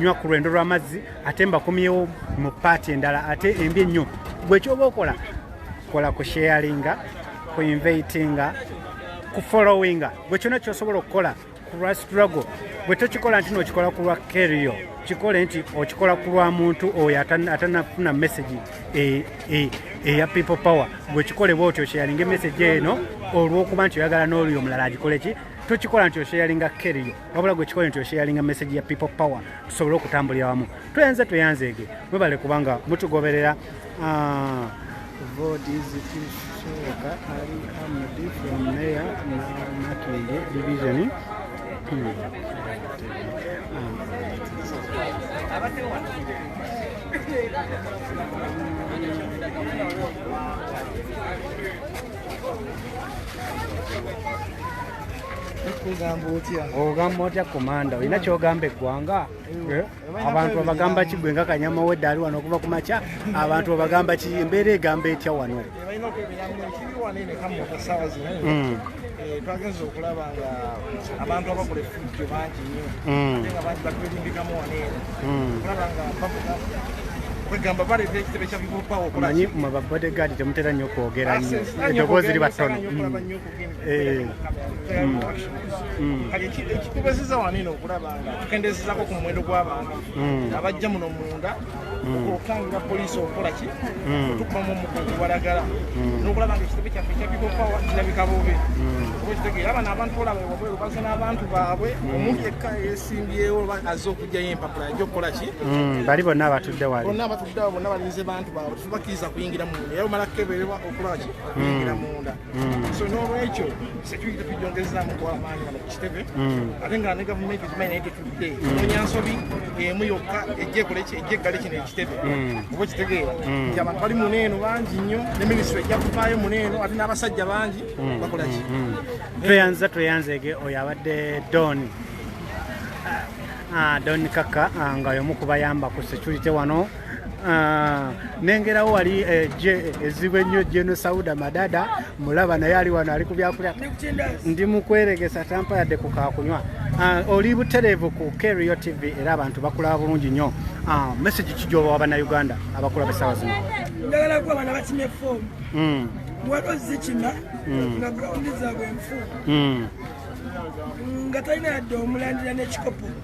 Speaker 2: nywa ku lwendo lw'amazzi ate mbakomyewo mu paati endala ate embi ennyo gwe kyoba okola kola ku sharinga ku inveitinga ku followinga gwe kyona kyosobola okukola ku lwa struggle bwe tokikola nti nokikola ku lwa kerio kikole nti okikola ku lwa muntu oyo atanafuna message eya e, e, e people power gwe kikole bwe otyo sharinga emessage eno olwokuba nti oyagala n'olyo omulala agikoleki tokikola nti osharinga kerio wabula gwe kikole nti osharinga message ya people power tusobole okutambulira wamu tweyanze tweyanzeege mwebale kubanga mutugoberera ah, division Thank you. ogamba otya komanda olina eh. kyogamba eggwanga eh. Eh. abantu babagamba ki gwe nga kanyama wedde ali wano okuva ku makya abantu babagamba ki embeera egamba etya wano hmm.
Speaker 6: twagenza okulaba nga abantu abakola efujjo bangi nyo hmm. ate nga bangi batwerimbikamu waneeno hmm. okulaba nga bavuga kwegamba baleeta ekitebe kya people power omanyi mwe babodegaadi
Speaker 2: temutera nnyo okwogera nnyo eddoboozi liba ttono Eh, mm,
Speaker 6: mm. kati ekitubeziza wano eno okulaba nga tukendezezako ku muwendo gw'abantu mm. abajja muno munda okukangula poliisi okukola ki otukumamu omukugu walagala n'okulaba nga ekitebe kyaffe kyabikopawa kirabika bubi okitegeera abano abantu olaba wabweru baze n'abantu baabwe omuntu yekka yesimbyewo azze okugjayo empapula ajja okukola ki bali bonna
Speaker 2: abatudde wali bonna abatudde awo bonna balinze
Speaker 6: bantu baabwe tubakkiriza kuyingira munda era omala kukeberebwa okulaba ki okuyingira munda Mm. so n'olwekyo security tugyongezaamu kwamaanyi wano ku kitebe mm. ate nga ne gavumenti ekimanyi naye tetudde mm. onya nsobi emu yokka ejja ekola ejja eggale kino ekitebe oba okitegeera nti abantu bali mune eno bangi nnyo ne minisitule ejja kuvaayo mune eno ate n'abasajja bangi bakola ki tweyanza
Speaker 2: tweyanzege oyo abadde don ah, ah, don kaka ah, nga yomu kubayamba ku security wano Ah, nengerawo wali eh, je ezibu ennyo jeno sauda madada mulaba naye ali wano ali kubyakulya ndi mukweregesa tampa yadde kukakunywa ah, oli butereevu ku kerio tv era abantu bakulaba bulungi nnyo ah, message kijoba wabana uganda abakulaba esawa zino njagala kuba bana
Speaker 7: bakime fomu hmm. waliwo zikima hmm. nga grawundi zaabwe nfu hmm. nga talina yadde omulandira n'ekikopo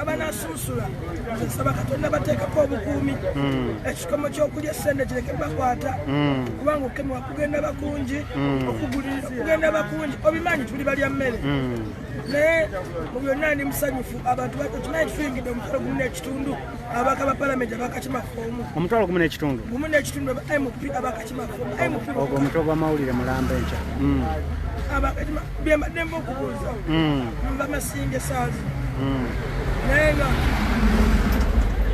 Speaker 7: abanasunsula nsaba katonda bateekako obukuumi hmm. ekikomo kyokulya esente kireke bakwata hmm. kubanga okukemebwa kugenda bakungi hmm. okuguliriza kugenda bakungi obimanyi tuli balya mmere naye mu byonna ndi musanyufu abantu bakimanyi kituyingidde omutwalo gumu n'ekitundu abaka ba palamenti abakakimafoomu omutwalo gumu n'ekitundu
Speaker 2: gumu n'ekitundu mp
Speaker 7: abaka ogwo omutwe gwamawulire
Speaker 2: mulamba enkya hmm.
Speaker 7: byembaddemu okubuuza hmm. bamasinga esaazi hmm. naye nga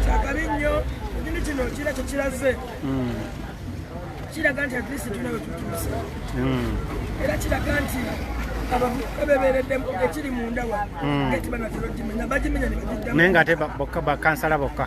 Speaker 7: kyakabi nnyo ekinu kino kira kyekiraze kiraga nti atlist tuna wetutuuse era kiraga nti abavubuka bebeereddemu ekiri munda wa eti banatera okimenya bagimenya nebagiddamu naye nga ate
Speaker 2: bakansala bokka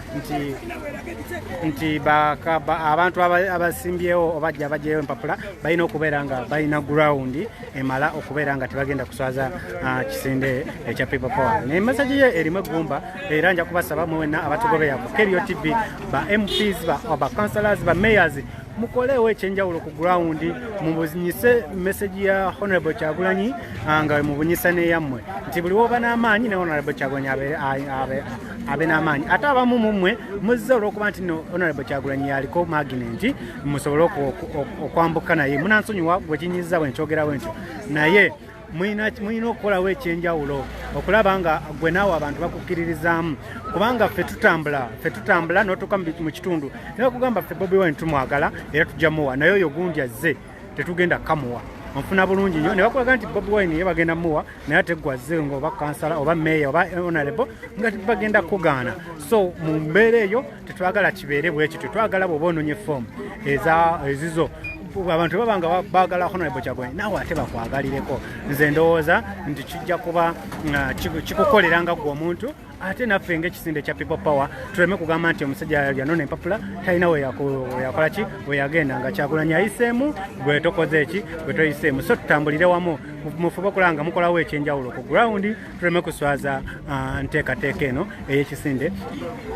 Speaker 2: nti nti abantu abasimbyewo obajja bajjayo empapula balina okubeera nga balina ground emala okubeera nga tebagenda kuswaza ah, kisinde ekya people power naye message ye erimu eggumba era nja kubasaba mwena abatugobeya ku kerio tv ba mps ba councilors ba mayors mukoleewo ekyenjawulo ku gurawundi mubunyise meseji ya honorable kyagulanyi ah, nga mubunyisa neyammwe nti buli woba n'amaanyi ne honorable kyagulanyi abe abe n'amaanyi ate abamu mu mmwe muzze olw'okuba nti no honorable kyagulanyi yaliko maginenti musobole okwambuka naye munansonyiwa bwe kinyiza bwe nkyogerawo ntyo naye mulina okukolawo ekyenjawulo okulaba nga gwe naawe abantu bakukkiririzaamu kubanga ffe tutambula ffe tutambula n'otuuka mu kitundu naye okugamba ffe bobi wine tumwagala era tujja muwa naye oyo gundi azze tetugenda kamuwa nfuna bulungi nyo nebakulaga nti bobi wine ye bagenda muwa naye ate gwazze nga oba kansala oba meeya oba onalebo nga bagenda kugaana so mu mbeera eyo tetwagala kibeere bwekityo twagala bwoba ononye foomu ezizo abantu baba nga bagala honorable kyagulanyi naawe ate bakwagalireko nze ndowooza nti kijja kuba uh, kikukoleranga gwe omuntu ate naffe ngaekisinde kya people power tuleme kugamba nti omusajja yanona empapula talina weyakola ki weyagenda nga kyakulanya yayiseemu gwe tokoze eki gwe toyiseemu so tutambulire wamu mufube okulaba nga mukolawo ekyenjawulo ku grawundi tuleme kuswaza ah, nteekateeka eno eyekisinde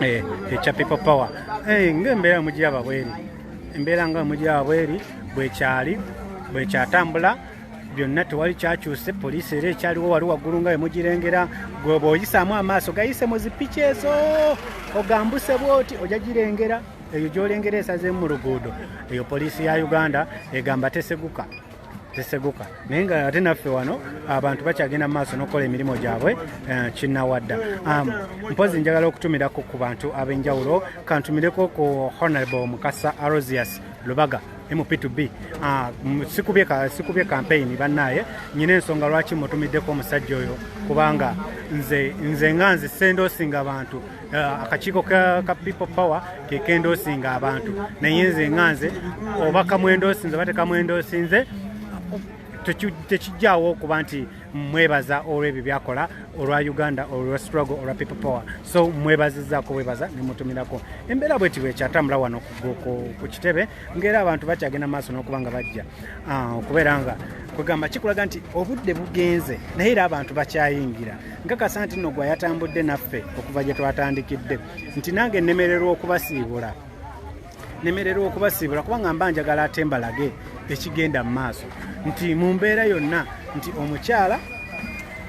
Speaker 2: eh, ekya people power eh, ngaembeera mugiraba bweri embeera nga mugiraba bweri bwekyali bwekyatambula byonna tewali kyakyuse poliisi era ekyaliwo wali waggulu nga wemugirengera gweba oyisaamu amaaso gayise mu zipiki ezo ogambuse bwoti ojja girengera eyo gyolengera esazeemu mu luguudo eyo poliisi ya uganda egamba teseguka teseguka naye nga ate naffe wano abantu bakyagenda mu maaso n'okukola emirimu gyabwe eh, kinawadda um, mpozi njagala okutumirako ku bantu ab'enjawulo kantumireko ku honorable mukasa arosius lubaga mp to b ah, sikubye sikubye campaign banaye nyine ensonga lwaki mutumiddeko omusajja oyo kubanga nze nze nga nze sendosinga abantu ah, akakiiko ka, ka people power kekendosinga abantu naye nze nga nze oba kamwendosinze oba tekamwendosinze tekijjawo okuba nti mwebaza olwebyo byakola olwa uganda olwa struggle olwa people power so mwebazizaako bwebaza nemutumirako embeera bweti bwekyatambula wano ku kitebe ngaera abantu bakyagenda maaso nokuba nga bajja ah, okubeera nga kwegamba kikulaga nti obudde bugenze naye era abantu bakyayingira nkakasa nti no gwa yatambudde naffe okuva gye twatandikidde nti nange nnemererwa okubasiibula nemererwa okubasiibula kubanga mba njagala ate mbalage ekigenda mu maaso nti mu mbeera yonna nti omukyala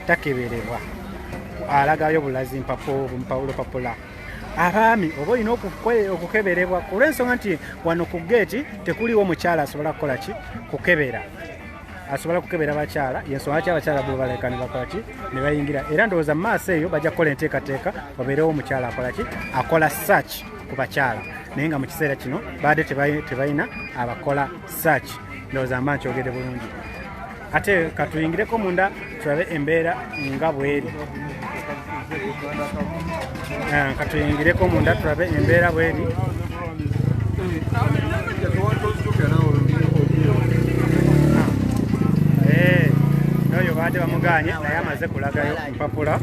Speaker 2: takeberebwa alagayo bulazi mpapaulo papula abaami oba olina okukeberebwa olwensonga nti wano ku geeti tekuliwo mukyala asobola kukola ki kukebera asobola kukebera bakyala yensonga lwaki abakyala bo baleka ne bakola ki ne bayingira era ndowooza mu maaso eyo bajja kukola enteekateeka obeerewo omukyala akola ki akola search ku bakyala naye nga mu kiseera kino baadde tebalina abakola search ndowooza mba nkyogede bulungi ate katuyingireko munda tulabe embeera nga bweri eh, katuyingireko munda tulabe embeera bweri noyo eh, baadde bamuganye naye amaze kulagayo mpapula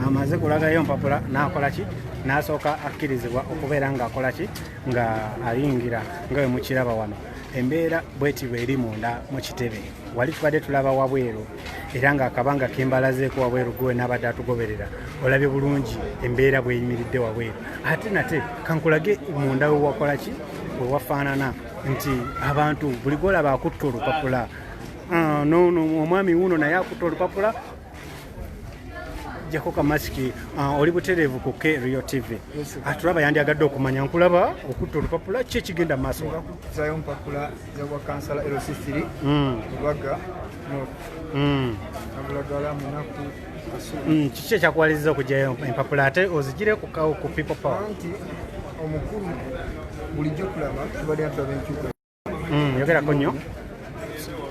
Speaker 2: amaze kulagayo mpapula nakolaki n'asooka akkirizibwa okubeera ng'akola ki nga ayingira nga we mukiraba wano embeera bweti bweri munda mu kitebe wali tubadde tulaba wabweru era ng'akabanga kembalazeeko wabweru gwe n'abadde atugoberera olabye bulungi embeera bweyimiridde wabweru ate nate kankulage munda wewakola ki wewafaanana nti abantu buli gwolaba akutta olupapula ah, nono omwami wuno naye akutta olupapula jako kamasiki uh, oli butereevu ku k rio tv atulaba ah, yandyagadde okumanya nkulaba okutta olupapula ki ekigenda maaso kuzayo mpapula
Speaker 8: yawa kansala lc3 mm. lubaga mm. abulagala munaku mm, kiki
Speaker 2: ekyakuwaliza okujayo empapula ate ozigire ku people power nti
Speaker 8: omukulu bulijjo kulaba tubadde atulaba enkyuka Mm, yogerako
Speaker 2: nnyo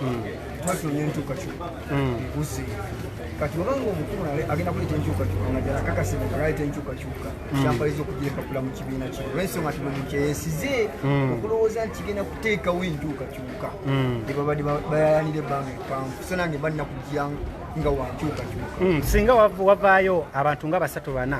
Speaker 2: mm. twatulonye
Speaker 8: enkyukakyuka mm. ekuze kati obanga omukulu agenda kuleeta enkyukakyuka nga ddala kakase nga galeeta enkyukakyuka kyampaliza okugira empapula mu kibiina kino olwensonga ti buli kyeyesize okulowooza nti kigenda kuteekawo enkyukakyuka ebabadde bayayanira ebbanga epanvu so nange balina kujja nga wankyukakyuka singa wavaayo
Speaker 2: abantu nga basatu bana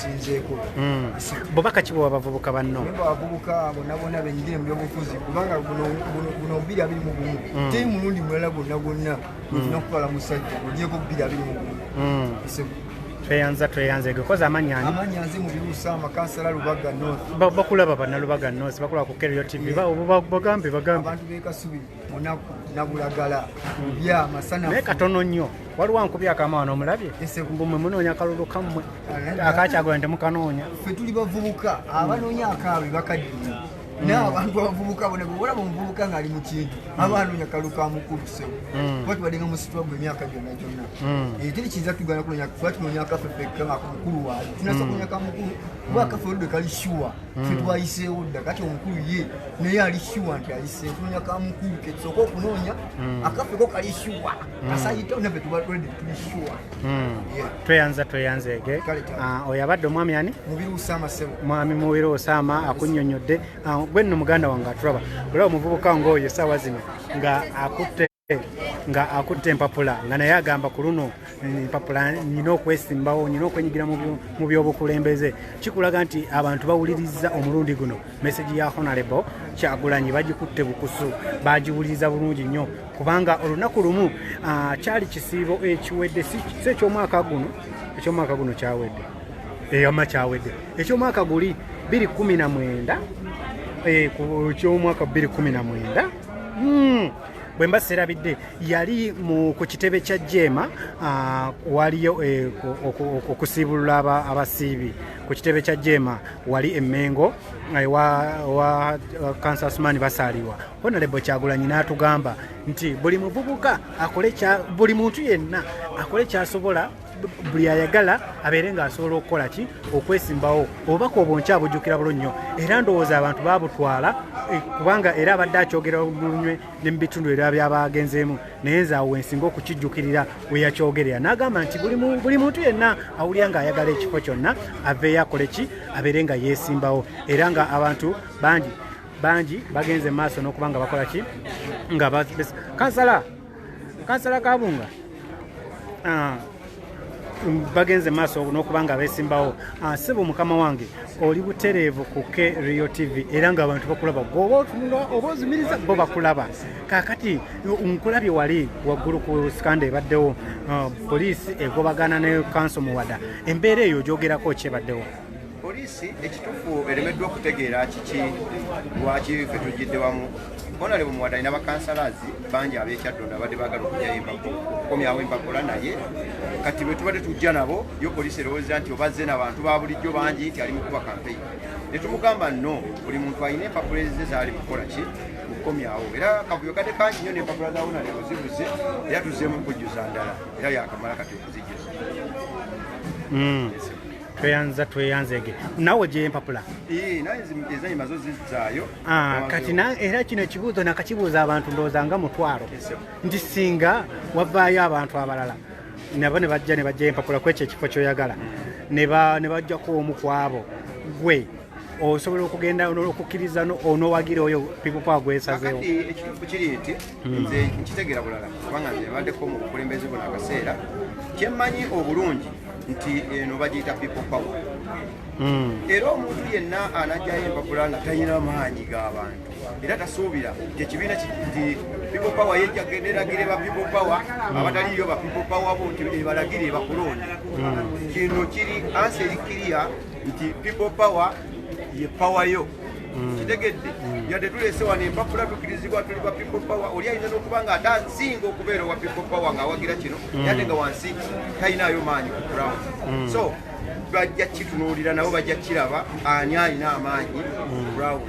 Speaker 8: sinzeeko hmm. bubaka
Speaker 2: ki bwewa bavubuka banno abavubuka bonabona
Speaker 8: benyigire mu byobufuzi kubanga buno bubiri abiri mu gumu hmm. teri mulundi mulala gwonna gwonna olina okutwala musajja ogyeko bubiri abiri mu gumu tweyanza
Speaker 2: tweyanza ego koza amanya ani amanya nzi mu birusa
Speaker 8: amakasala lubaga north bakulaba bana lubaga
Speaker 2: north bakulaba ku kerio tv ba bagambe bagambe abantu be
Speaker 8: kasubi munaku nabulagala bya masana naye katono nnyo
Speaker 2: waliwo ankubya akama wano omulabye mbumwe munoonya kalulu kammwe akakyagula nti mukanoonya ffe tuli bavubuka
Speaker 8: abanoonya akaabwe bakaddiye naye abantu abavubuka bona bwolaba omuvubuka ng'ali mu kintu aba anoonya kalulu ka mukulu sebo mm. kuba tubadde nga musitwa gwe emyaka gyonna gyonna mm. eh, teri kiyinza tugana kunoonya kuba tunoonya kafe fekka nga mukulu waayo tunasa mm. kunoonya ka mukulu kuba kafe oludde kali shuwa fetwayiseewo dda kati omukulu ye naye ali shuwa nti ayise kunoonya ka mukulu kesooka okunoonya hmm. akafeko kali shuwa hmm. kasayitawo nafe tubalwede tuli shuwa hmm. tweyanza tweyanzeege
Speaker 2: ah, oyo abadde omwami ani mubiru usama sebo
Speaker 8: mwami mubiru usama
Speaker 2: akunyonyodde ah, gwe nno muganda wange aturaba olaba omuvubuka ngaoyo esaawa zino nga akutte nga akutte empapula nga naye agamba ku luno empapula nyina okwesimbawo nyina okwenyigira mu byobukulembeze kikulaga nti abantu bawuliriza omulundi guno meseji ya honarebo kyagulanyi bagikutte bukusu bagiwuliriza bulungi nnyo kubanga olunaku lumu ah, kyali kisiibo ekiwedde si ekyomwaka guno ekyomwaka guno kyawedde eyama kyawedde ekyomwaka guli 219 eh, ku kyomwaka 219 bwe mba serabidde yali ku kitebe kya jeema ah, waliyo eh, okusiibulula abasiibi ku kitebe kya jeema wali emengo eh, wa kansasumani basaaliwa honalebo kyagulanyi n'atugamba nti buli muvubuka akole buli muntu yenna akole kyasobola buli ayagala abeere ng'asobola okukola ki okwesimbawo obubaka obwo nkya bujjukira bulo nnyo era ndowooza abantu babutwala eh, kubanga era abadde akyogera lunywe ne mu bitundu era byabagenzeemu naye nze awo wensinga okukijjukirira weyakyogerera n'agamba nti buli muntu yenna awulira ng'ayagala ekifo kyonna aveeyo akole ki abeere nga yeesimbawo era nga abantu bangi bangi bagenze mu maaso n'okuba nga bakola ki nga kansala kansala kabunga ah, bagenze maaso n'okuba nga beesimbawo ah, sebo mukama wange oli butereevu ku k rio tv era nga abantu bakulaba goba otunula oba ozumiriza bo bakulaba kakati nkulabye wali waggulu ku sikanda ebaddewo ah, poliisi egobagana ne kanso muwada embeera eyo ogyogerako kyebaddewo Poliisi
Speaker 9: ekitufu eremeddwa okutegeera kiki lwaki fe tujjidde wamu onale bumuwadani nabakansalazi bangi abekyaddonda abadde bagala okujayo embago okukomyawo embagola naye kati bwetubadde tujja nabo yo poliisi erowooza nti obazze nabantu ba bulijjo bangi nti ali mukuba kampeyini netumugamba no buli muntu alina empapula ezize zaali mukukola ki okukomyawo era kavuyo kadde kangi nyo nempapula za onale ozibuze era tuzzeemu okujjuza ndala era yakamala kati okuzijjuza mm.
Speaker 2: tweyanza tweyanzege nawe gyempapula
Speaker 9: ah, kati
Speaker 2: era kino ekibuuzo nakakibuuza abantu ndowooza nga mutwalo nti singa wavaayo abantu abalala nabo ne bajja ne bajja empapula kwekyo ekifo kyoyagala ne bajjako omu kwabo gwe osobola okugenda okukkiriza onowagira oyo people power gwesazeewo ekituufu kiri nti
Speaker 9: hmm. nze nkitegera bulala kubanga nze baddeko mu bukulembeze buno akaseera kyemmanyi obulungi nti eno bagiyita people power hmm. era omuntu yenna anajjayo empapula nga talina maanyi g'abantu era tasuubira nti ekibiina nti people power yejja genda eragire ba people power hmm. abataliyo ba people power bo nti ebalagire bakulonde kino kiri ansi erikiriya nti people power ye power yo mm. kitegedde mm. yadde tulese wano empapula tukirizibwa tuli ba people power oli ayinza nokuba nga ate asinga okubeera owa people power ngaawagira kino mm. yadde nga wansi talinayo maanyi ku ground so bajja kitunuulira nabo bajja kiraba ani alina amaanyi ku ground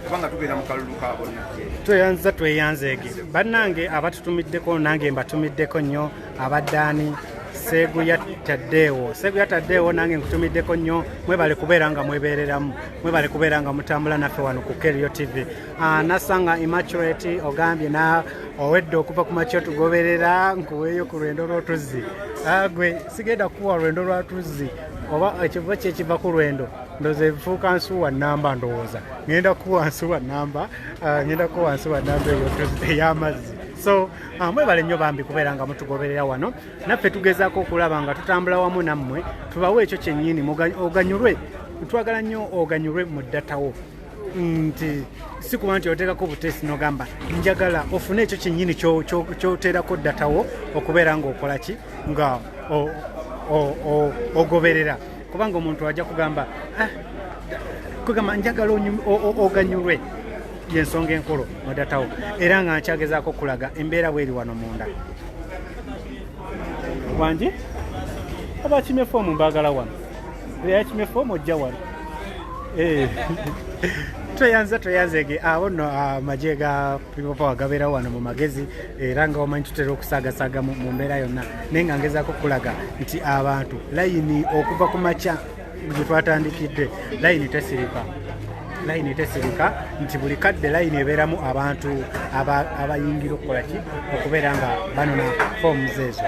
Speaker 9: kubanga tubeera mu kalulu ka bonna tweyanziza tweyanzeege
Speaker 2: bannange abatutumiddeko nange mbatumiddeko nnyo abadde ani seguya taddeewo seguya taddeewo nange nkutumiddeko nnyo mwebale kubeera nga mwebeereramu mwebale kubeera nga mutambula naffe wano ku kerio tv ah, nasanga immaturate ogambye na owedde okuva ku makyo tugoberera nkuweeyo ku lwendo lw'otuzzi ah, gwe sigenda kukuwa lwendo lwa tuzzi oba ekiva kyekiva ku lwendo ndoza ebifuuka nsuwa namba ndowooza ngenda kukuwa nsuwa namba ah, ngenda kukuwa nsuwa namba ey'amazzi so Ah, mwebale nnyo bambi kubeera nga mutugoberera wano naffe tugezaako okulaba nga tutambula wamu nammwe tubawe ekyo kyennyini oganyulwe twagala nnyo oganyulwe mu ddatawo nti si kuba nti oteekako obuteesi nogamba njagala ofune ekyo kyennyini kyoteerako ddatawo okubeera ngaokola ki nga ogoberera kubanga omuntu ajja kugamba ah, kugamba njagala oganyulwe yensonga enkulu mudatawo era nga nkyagezaako okulaga embeera bweri wano munda wangi abakimye foomu mbaagala wano eyakimye foomu ojja wano eh. tweyanza tweyanzege abo no amagye ah, ga people power gabeerawo wano mu magezi era nga wamanyi tutera okusaagasaga mu mbeera yonna naye nga ngezaako okulaga nti abantu layini okuva ku makya gyetwatandikidde layini tesirika layini tesirika nti buli kadde layini ebeeramu abantu abayingira okukola ki okubeera nga banona forms ezo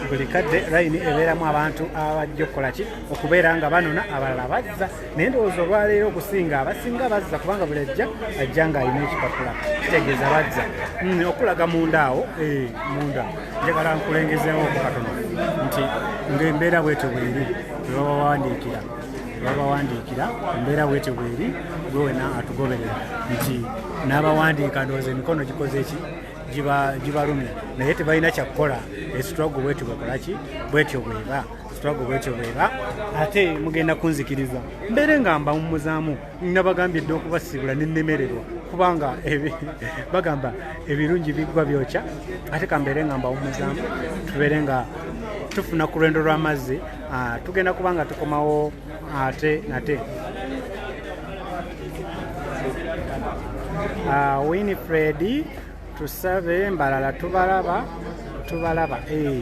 Speaker 2: buli kadde layini ebeeramu abantu abajja okukola ki okubeera nga banona abalala bazza naye ndowooza olwaleero okusinga abasinga bazza kubanga buli ajja ajja nga alina ekipapula kitegeeza bazza mm, okulaga mundaawo eh, munda njagala nkulengezeewo okukatono nti ngaembeera bwetyo bweri webabawandiikira babawandiikira embeera bwetyo bweri gwe wena atugoberera nti n'abawandiika ndowooza emikono gikoze ki gibalumya naye tebalina kyakukola esitwago bwetyo bwekolaki bwetyo bweba sitwago bwetyo bweba ate mugenda kunzikiriza mbeere nga mbawummuzaamu nabagambye dda okubasiibula nenemererwa kubanga bagamba ebirungi biggwa byokya ate kambeere nga mbawumuzaamu tubeere nga tufuna ku lwendo lw'amazzi ah, tugenda kuba nga tukomawo ate nate ah, winifred tusabe mbalala tubalaba tubalaba eh.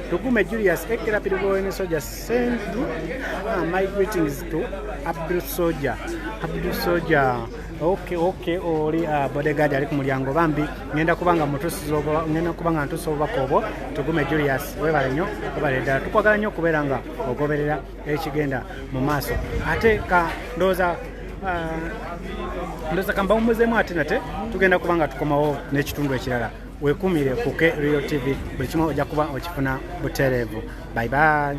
Speaker 2: Tugume Julius Ekera Pirigoyene Soja send uh, my greetings to Abdul Soja. Abdul Soja. Okay, okay, oli uh, bodyguard ali ku mulyango bambi ngenda kubanga mutusiza obo ngenda kubanga ntusa obubaka obwo tugume Julius webale nnyo webale ddala tukwagala nnyo okubeera nga ogoberera ekigenda mu maaso ate ka ndowooza uh, ndowooza kambawumuzemu ate nate tugenda kubanga tukomawo n'ekitundu ekirala wekumire kuke real tv buli kimu ojja kuba okifuna butereevu bye bye